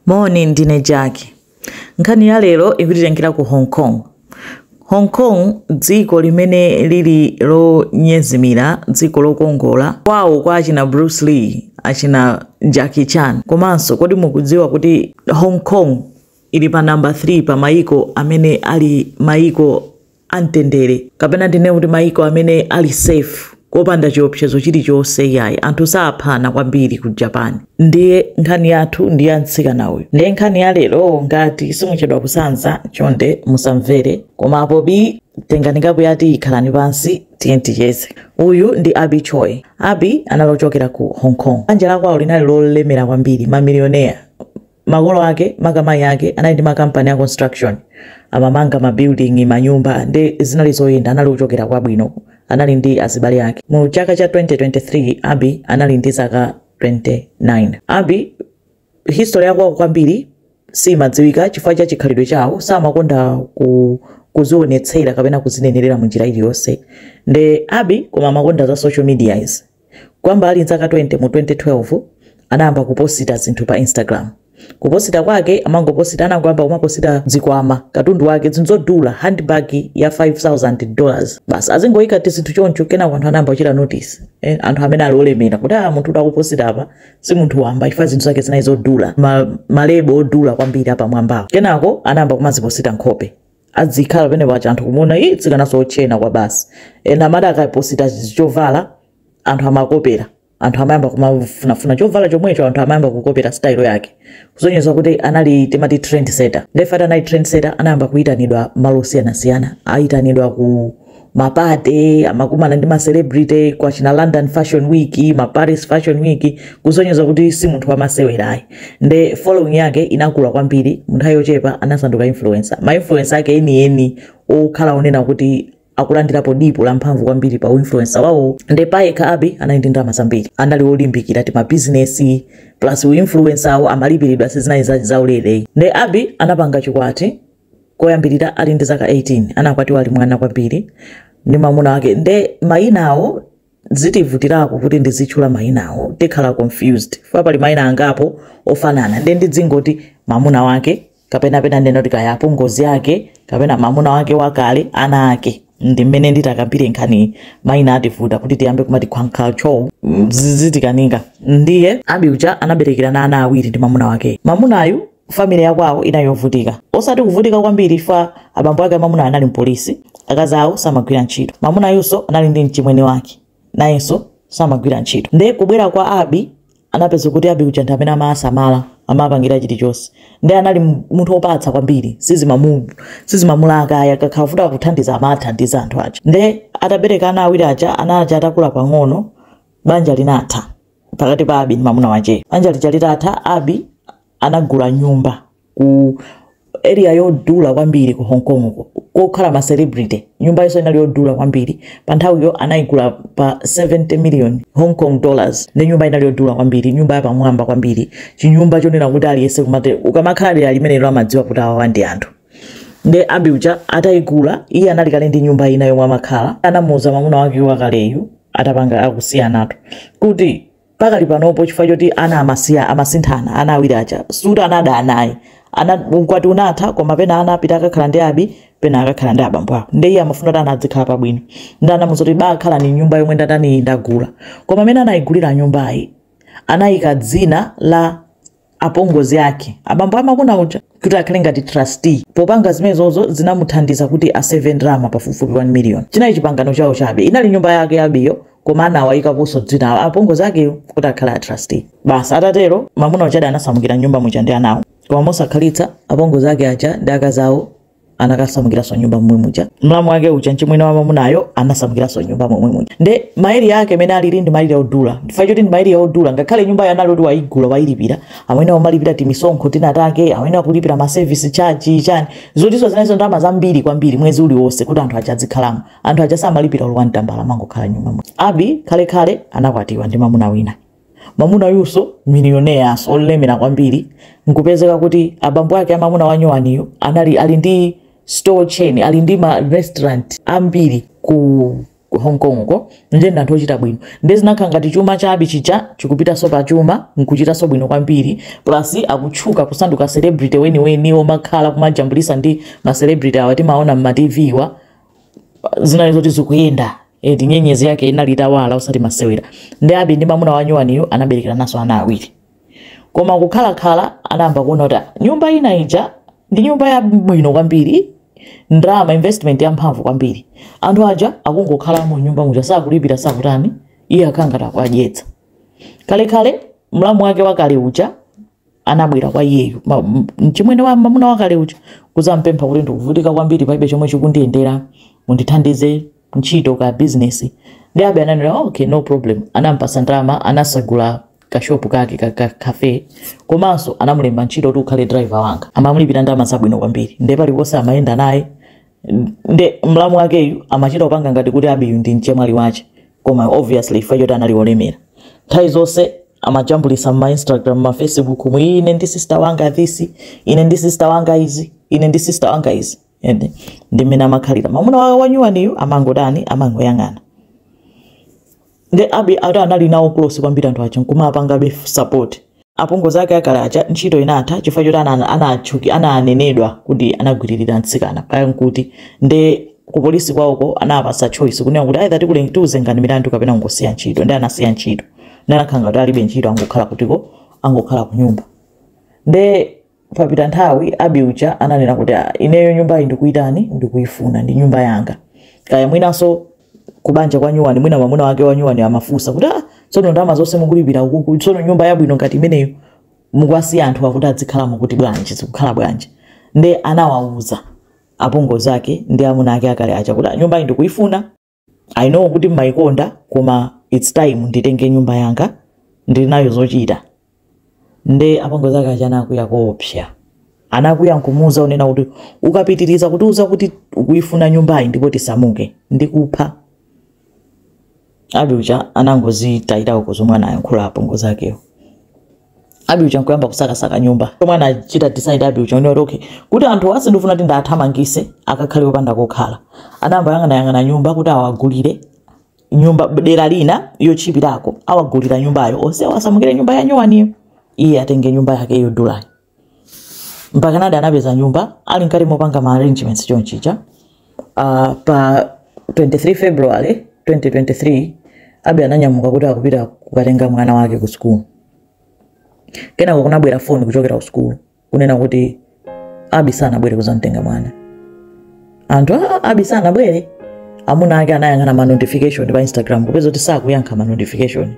Moni, ndine Jack. Nkhani ya lero ikutitengera ku Hong Kong. Hong Kong dziko limene lili lonyezimira, dziko lokongola, kwawo kwa achina Bruce Lee, achina Jackie Chan. Komanso kodi mukudziwa kuti Hong Kong ili pa namba 3 pa mayiko amene ali mayiko amtendere kapena ndinene kuti maiko amene ali safe kopanda chiopsezo chilichonse iyayi anthu saphana kwambiri ku japan ndiye nkhani yathu ndi ya mtsikana uyu ndiye nkhani ya lero ngati simuchedwa kusanza chonde musamvere koma apo bi tengani kapu ya tiyi khalani pansi tiye ticheze uyu ndi abi choi abi anali ochokera ku hong kong banja lakwawo linali lolemera kwambiri mamilioneya Makolo ake maka mayi ake anali ndi ma company a construction amamanga ma building manyumba nde zinali zoyenda anali ochokera kwabwino anali ndi azibale ake. Mu chaka cha 2023 Abby anali ndi zaka 29. Abby history ya kwawo kwambiri simadziwika chifukwa cha chikhalidwe chawo samakonda ku kuzionetsera kapena kuzinenerera munjira iliyonse nde Abby koma amakonda za social media izi. Kuyamba ali n'zaka 20 mu 2012, anayamba kuposita zinthu pa Instagram. Kuposita kwake amangoposita, anangoyamba kumaposita zikwama, katundu wake, zinthu zodula, handbag ya 5000 dollars. Basi azingoika tizinthu choncho, kenako anthu anayamba kuchita notice, eh, anthu amene ali olemera kuti ah, munthu uyu akuposita apa si munthu wamba chifukwa zinthu zake zinali zodula, ma, malebo odula kwambiri apamwambawo. Kenako anayamba kumaziposita nkhope. adzikhala penapake anthu kumuona ii mtsikanaso otchena kwabasi ena amati akaposita chovala anthu amakopera anthu amayamba kumafunafuna chovala chomwecho anthu amayamba kukopera style yake kusonyeza kuti anali timati trendsetter ndefati anali trendsetter anayamba kuyitanidwa malo osiyanasiyana ayitanidwa ku ma party amakumana ndi ma celebrity kwa china London Fashion Week ma Paris Fashion Week kusonyeza kuti si munthu wamasewera ayi nde following yake inakula kwambiri munthawi yochepa anasanduka influencer ma influencer ake enieni okhala onena kuti akulandirapo dipo la mphamvu kwambiri pa uinfluencer wawo nde payekha abi anali ndi ndalama zambiri anali olimbikira ti mabizinesi plus uinfluencer awo amalipiridwa sizinali za- zaulere nde abi anapanga chikwati Koyambirira ali ndi zaka 18, anakwatiwa ali mwana kwambiri ndi mamuna wake nde mayinawo zitivutirako kuti ndizitchula mayinawo tikhala confused chifukwa pali mayina angapo ofanana nde ndidzingoti mamuna wake kapena pena ndinene kuti kaya apongozi ake kapena mamuna wake wakale ana ake ndi mmene nditakambire nkhaniyi mayina ativuta kuti tiyambe kumati kwankhalcho zizitikanika ndiye abi uja anaberekerana ana awiri ndi mamuna wakeyo mamunayu family yakwawo inali yovutika osati kuvutika kwambiri chifukwa abambo ake a mamunayo anali mpolisi akazi awo samagwira ntchito mamunayunso anali ndi mchimwene wake nayenso samagwira ntchito nde kubwera kwa abi anapeza kuti abi uja ndi amene amasamala amapangira chilichonse nde anali mu- munthu opatsa kwambiri sizimamu- sizimamulaka akakhala wofuna kuthandiza amathandiza anthu aja nde atabereka ana awiri aja ana aja atakula pang'ono banja linatha pakati pa Abby ndi mamuna wacheyo. Banja lija litatha, Abby anagula nyumba ku area yodula kwambiri ku Hong Kong uko, kokhala ma celebrity. Nyumbayinso inali yodula kwambiri. Pa nthawiyo anaigula pa 70 million Hong Kong dollars. Ndi nyumba inali yodula kwambiri, nyumba yapamwamba kwambiri. Chinyumba chonena kuti aliyense kumati ukamakhala dera limenelo amadziwa kuti awawa ndi anthu. Nde Abby uja ataigula, iye anali kale ndi nyumba ina yomwe amakhala. Anamuuza mamuna wake wakaleyu atapanga akusiyanatu kuti pakali panopo chifukwa choti ana amasiya amasinthana ana awiri aja si kuti anabadwa anayi ana ukwati unatha koma pena ana apita akakhala ndi abi pena akakhala ndi abambo awo nde iye amafuna kuti ana adzikhala pabwino nde anamuuza kuti bakhala mu nyumba yomwe ndatani ndagula koma mmene anayigulira nyumbayi anayika dzina la apongozi ake, abambo a mamuna uja, kuti akhale ngati trustee. Popanga zimenezozo zinamuthandiza kuti aseve ndalama pafupifupi 1 miliyoni. Chinali chipangano chawo chabe. Inali nyumba yake ya Abby-yo koma anawaikaponso dzina la apongozi akewo kuti akhale trustee. Basi atatero, mwamuna ujadi anasamukira m'nyumba muja ndi anawo. Koma mosakhalitsa, apongozi ake aja ndi akazi awo anakasamukiranso m'nyumba momwe muja mlamu wake uja mchimwene wa mamunayo anasamukiranso m'nyumba momwe muja nde ma area ake mene alili ndi ma area odula chifukwa choti ndi ma area odula ngakhale nyumba ija anali oti waigula wailipira amene amalipira timisonkho tina take amene akulipira ma service charge chani zotinso zinazo ndalama zambiri kwambiri mwezi uliwonse kuti anthu aja adzikhalamo anthu aja samalipira olo one tambala amangokhala m'nyumba muja abi kalekale anakwatiwa ndi mamuna wina Mwamunayunso, millionaires olemera kwambiri, nkupezeka kuti abambo ake a mwamuna wanyowaniyu anali ali ndi store chain, ali ndi ma restaurant ambiri ku Hong Kong ko, ndiye ndi anthu ochita bwino. Ndiye zinakhala ngati chuma cha Abby chija chikupitanso pa chuma, nkuchitanso bwino kwambiri, plus akutchuka kusanduka celebrity weniweni, womakhala kumajambulitsa ndi ma celebrity awa timaona mma TV wa, zinali zoti zikuyenda eti nyenyezi yake inali itawala osati masewera nde abi ndi mamuna wa nyuwaniyo anaberekerananso ana awiri koma kukhalakhala anayamba kuona kuti "Ah, nyumba ina ija ndi nyumba yabwino kwambiri ndalama investment yamphamvu kwambiri anthu aja akungokhala mu nyumba muja sakulipira sakutani iye ali ngati akuwadyetsa kalekale mlamu wake wakale uja anabwera kwa iyeyu ma- m- mchimwene wa mamuna wakale uja kuzampempha kuti ndikuvutika kwambiri palibe chomwe chikundiyendera mundithandize ntchito ka bizinesi nde abi ananena okay no problem anampasa ndalama anatsegula kashopu kake ka, ka cafe komanso anamulemba ntchito kuti ukhale driver wanga amamulipira ndalama zabwino kwambiri ndiye paliponse amayenda naye nde mlamu wakeyu amachita kupanga ngati kuti abi uyu ndi mchemwali wache koma obviously chifukwa choti anali olemera nthawi zonse amajambulisa mma instagram ma facebook mu ine ndi sister wanga this ine ndi sister wanga izi ine ndi sister wanga izi and ndi mmene amakhalira mamuna wa nyuwaniyu amangotani amangoyang'ana nde abi ati anali nawo close kwambiri anthu aja nkumapangabe f- support apongozi ake akale aja ntchito inatha chifukwa choti ana- anatchuki ananenedwa kuti anagwiririra mtsikana kaya nkuti nde ku polisi kwawoko anapasa choice kunena kuti either tikule- tiuzengani milandu kapena ingosiyani ntchito nde anasiya ntchito nde anakhala ngati alibe ntchito angokhala kutiko angokhala kunyumba nde Papita nthawi, Abi uja ananena kuti, ah, ineyo nyumbayi ndikuyitani, ndikuyifuna, ndi nyumba yanga. Kaya mwinanso kubanja kwa nyuwani, mwina mamuna wake wa nyuwani amafunsa kuti, ah, tsono ndalama zonse mukulipira ukuku, tsono nyumba yabwino ngati imeneyo mukuwasiya anthu akuti adzikhalamo kuti bwanji, zikukhala bwanji. Nde anawawuza apongozi ake ndi amuna ake akale aja kuti, ah, nyumbayi ndikuyifuna. I know kuti mmaikonda koma its time nditenge nyumba yanga ndili nayo zochita nde apongozi ake aja anakwiya koopsa anakwiya nkumuuza kunena kuti ukapitiriza kutiuza kuti ukuifuna nyumbayi ndipo tisamuke ndikupha abi uja anangozitayira uko zomwe anayankhula apongozi akewo abi uja nkuyamba kusakasaka nyumba zomwe anachita decide abi uja kunena kuti okay kuti anthuwa sindifuna kuti ndiwathamangitse akakhale opanda kokhala anayamba kuyang'anayang'ana nyumba kuti awagulire nyumba dera lina yotchipirako awagulire nyumbayo onse awasamukire nyumba ya nyuwaniyo iye atenge nyumba yake yodulayo mpaka ndedi anapeza nyumba ali mkati mopanga ma arrangements chonchicha Uh, pa 23 February 2023 Abi ananyamuka kuti akupita kukatenga mwana wake ku sukulu. Kenako kunabwera foni kuchokera ku sukulu kunena kuti Abi sanabwere kuzamtenga mwana. Anthu a Abi sanabwere amuna ake anayang'ana ma notification pa Instagram kupeza kuti sakuyankha ma notification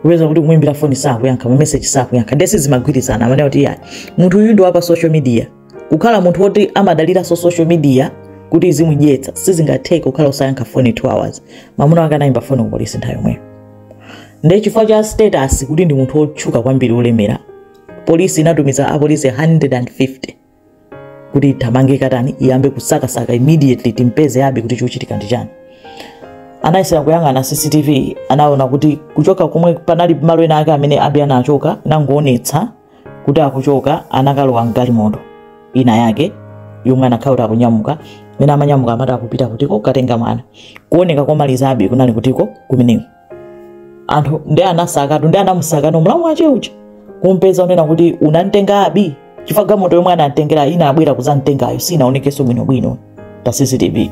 kupeza kuti kumwimbira foni sakuyankha ma message sakuyankha nde sizimagwirizana mmene kuti ya munthu uyu ndi wa pa social media kukhala munthu woti amadaliranso social media kuti izimudyetsa sizingatheke kukhala usayankha foni 2 hours mamuna wake anayimba foni kupolisi nthawi yomweyo nde chifukwa cha status kuti ndi munthu wotchuka kwambiri wolemera polisi inatumiza apolisi 150 kuti ithamange katani iyambe kusakasaka immediately timpeze abi kuti chikuchitika ndi chani anayesera kuyang'ana cctv anaona kuti kuchoka komwe panali malo ena ake amene abi anachoka inangoonetsa kuti akuchoka anakalowa mgalimoto ina yake yomwe anakhala kuti akunyamuka mene amanyamuka amati akupita kutiko kukatenga mwana kuoneka komalizabe kunali kutiko kumeneko anthu nde anasakatu nde anamusaka mlamu wache uja kumpeza kunena kuti unamtenga abi chifukwa galimoto yomwe anamtengera inabwera kuzamtengayo sinaonekenso bwinobwino pa cctv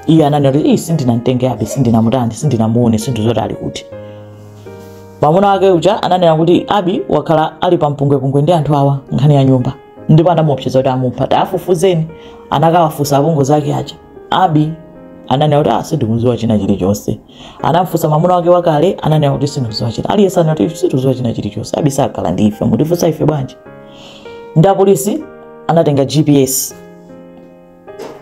iye ananena kuti "Ii, sindinamtenge abi sindinamutani sindinamuone sindikudziwa zoti ali kuti mwamuna wake uja ananena kuti abi wakhala ali pa mpungwepungwe ndi anthu awa nkhani ya nyumba ndipo anamuopseza kuti amupha tafufuzeni anakawafunsa apongozi ake aja abi ananena kuti ah sindikuziwa china chilichonse anamfunsa mwamuna wake wakale ananena kuti sindikuziwa china aliyense anati sindikuziwa china chilichonse abi sakhala ndi ife mutifunsa ife bwanji nde apolisi anatenga gps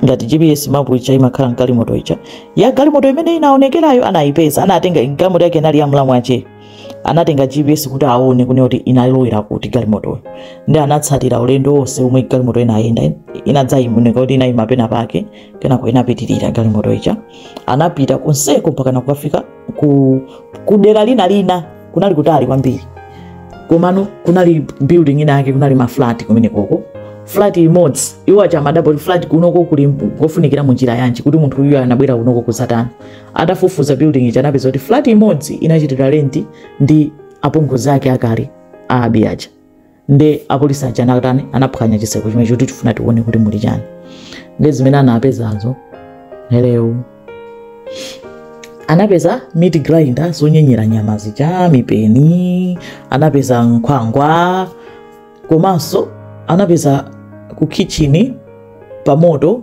ngati gps mapu ija imakhala mgalimoto ija ya galimoto imene inaonekerayo anayipeza anatenga galimoto yake inali ya mlamu wacheyo anatenga gps kuti aone kunena kuti inalowera kuti galimotoyo nde anatsatira ulendo wonse omwe galimoto inayenda inadzaoneka kuti inayima pena pake kenako inapitirira galimoto ija anapita konseko mpakana kukafika ku, ku dera lina lina kunali kutali kwambiri komano kunali building ina yake kunali maflat kumenekoko flat imodzi iwo aja amadabwa flat kunoko kuli kofunikira mu njira yanji kuti munthuyu anabwera kunoko kudzatani atafufuza building ija anapeza kuti flat imodzi anachitira renti ndi apongozi ake akale a abi aja nde apolisi aja anatani anaphwanya chitseko chimenecho kuti tifuna tione kuti muli chani nde zimene anapezazo hello anapeza meat grinder zonyenyera nyama zija mipeni anapeza nkhwangwa komanso anapeza ku kitchen pamoto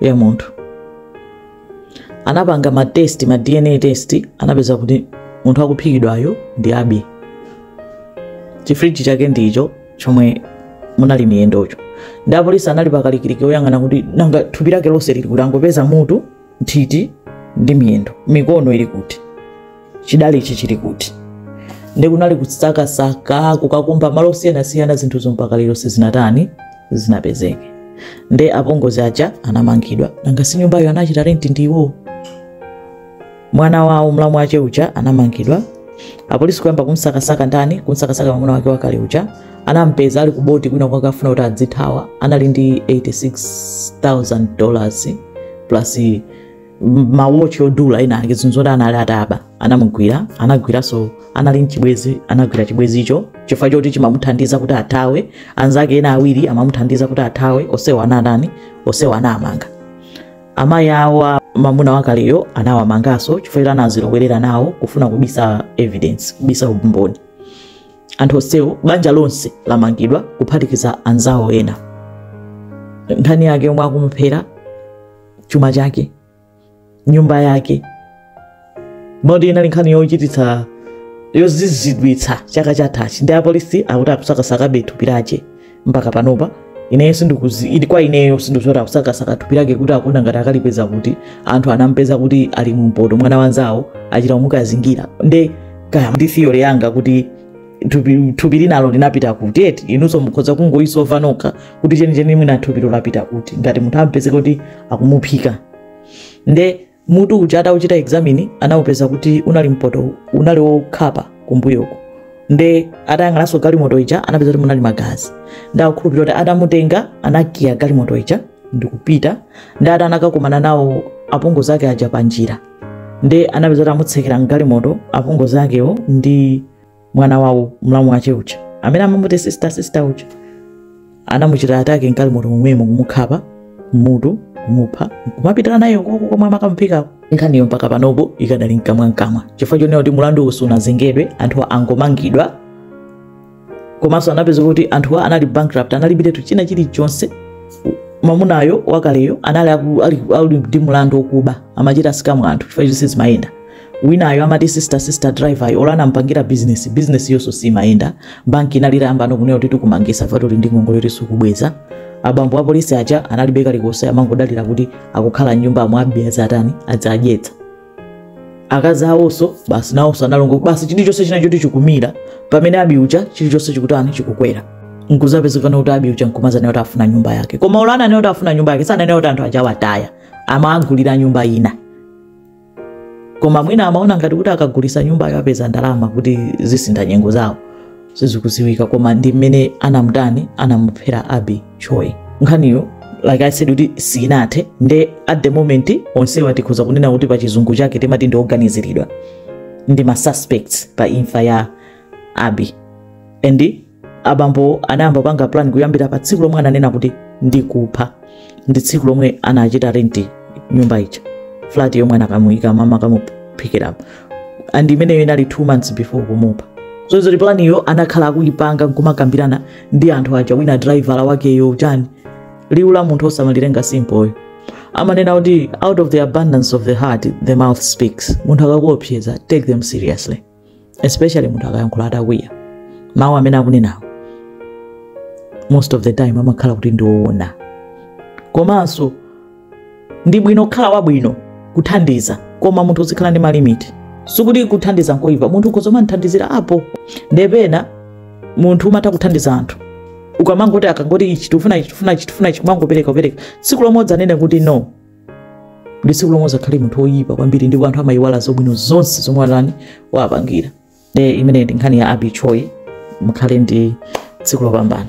ya munthu anapanga ma test ma dna test anapeza kuti munthu akuphikidwayo ndi abi chifriji chake ndicho chomwe munali miyendocho nde apolisi anali pakalikiliki oyang'ana kuti nanga thupi lake lonse lili kuti angopeza mutu nthiti ndi miyendo mikono ili kuti chidali ichi chili kuti nde kunali kusakasaka kukakumba malo osiyanasiyana zinthuzo mpaka lero sizinatani sizinapezeke nde apongozi aja anamangidwa nanga si nyumbayo anachita renti ndi iwowo mwana wawo mlamu wache uja anamangidwa apolisi kuyamba kumsakasaka ndani kumsakasaka mwamuna wake wakale uja anampeza ali kuboti kwina kwake afuna kuti adzithawa anali ndi 86000 dollars plus mawochi odula ena ake zinthu zoti anali ataba anamugwira anagwiranso anali mchibwezi anagwira chibwezicho chifukwa choti chimamuthandiza kuti athawe anzake ena awiri amamuthandiza kuti athawe onsewa anatani onsewa anamanga amayi awo a mamuna wakaleyo anawamanganso chifukwa choti anazilowerera nawo kufuna kubisa evidence kubisa umboni anthu onsewo banja lonse lamangidwa kuphatikiza anzawo ena nkhani yake yomwe akumuphera chuma chake nyumba yake moti inali nkhani yochititsa yozizidwitsa chaka chathachi ndi apolisi akuti akusakasakabe thupi lake mpaka panopa ineyo sindikuzi ili kwa ineyo sindikuti akusakasaka thupi lake kuti akuona ngati akalipeza kuti anthu anampeza kuti ali mumpoto mwana wanzawo achita kumukazingira nde kaya ndi theory yanga kuti thupi thupi linalo linapita kuti eti inunso mukhoza kungoyisova nokha kuti chenicheni mwina thupilo lapita kuti ngati munthu ampezeka kuti akumuphika nde mutu uja atauchita examine anawupeza kuti unali mpoto unali wokhapa kumbuyoko nde atayang'ananso galimoto ija anapeza kuti munali magazi nde akukhulupirira kuti atamutenga anakiya galimoto ija ndikupita nde ati anakakumana nawo apongozi ake aja panjira nde anapeza kuti amutsekera mgalimoto apongozi akewo ndi mwana wawo mlamu wache uja amene amamuti sister sister uja anamuchita attack mgalimoto momwemo kumukhapa mutu kumupha kumapita naye ukoko komwe amakamuphikako nkhaniyo mpaka panopo ikadali mkamwamkamwa chifukwa chonena kuti mulandu uwu sunazengedwe anthuwa angomangidwa komanso anapeza kuti anthuwa anali bankrupt analibiretu china chilichonse mamunayo wakaleyo anali aku- ali- ali ndi mulandu wokuba amachita scam anthu chifukwa chonse zimayenda winayo amati sister sister driver yo olo anampangira business business yonso simayenda banki inali itayambano kunena kuti tikumangisa fatu uli ndi ngongole yoti sukubweza abambo apolisi aja analibe kalikonse amangodalira kuti akukhala mnyumba mwa abby azatani adzadyetsa akazi awonso basi nawonso analongo basi chilichonse china choti chikumira pamene abby uja chilichonse chikutani chikukwera nkuzapezekana kuti abby uja nkumazanena kuti afuna nyumba yake koma olo ananena kuti afuna nyumba yake sananena kuti anthu aja awataya amawagulira nyumba ina koma mwina amaona ngati kuti akagulisa nyumbayo apeza ndalama kuti zisintha nyengo zawo sizikuziwika koma ndi mmene anamutani anamuphera abby choi nkhaniyo like i said kuti sinathe nde at the moment onsewa tikhoza kunena kuti pa chizungu chake timati ndi oganiziridwa ndi ma suspects pa imfa ya abby and abambo anayamba kupanga plan kuyambira pa tsiku lomwe ananena kuti ndikupha ndi tsiku lomwe anachita renti nyumba ija flat yomwe anakamuyika mama akamuphikira and imeneyo inali two months before kumupha so zoti plan iyo anakhala akuyipanga nkumakambirana ndi anthu aja wina driver wakeyo chani liwu la munthu osamalitenga simple amanena kuti out of the abundance of the heart the mouth speaks munthu akakuopseza take them seriously especially munthu akayankhula atakwiya mawu amene akunenawo most of the time amakhala kuti ndiwoona komanso ndi bwino kukhala wabwino kuthandiza koma munthu uzikhala ndi malimiti sikuti kuthandiza nkoyipa munthu ukhoza kumangothandizirapo nde pena munthu umatha kuthandiza anthu ukamangoti akangoti ichi tifuna ichi tifuna ichi tifuna ichi kumangopereka kupereka tsiku lomwe udzanene kuti no ndi tsiku lomwe uzakhale munthu woyipa kwambiri ndipo anthu amayiwala zabwino zonse zomwe unawapangira e imeneyi ndi nkhani ya Abby Choi mukhale ndi tsiku lopambana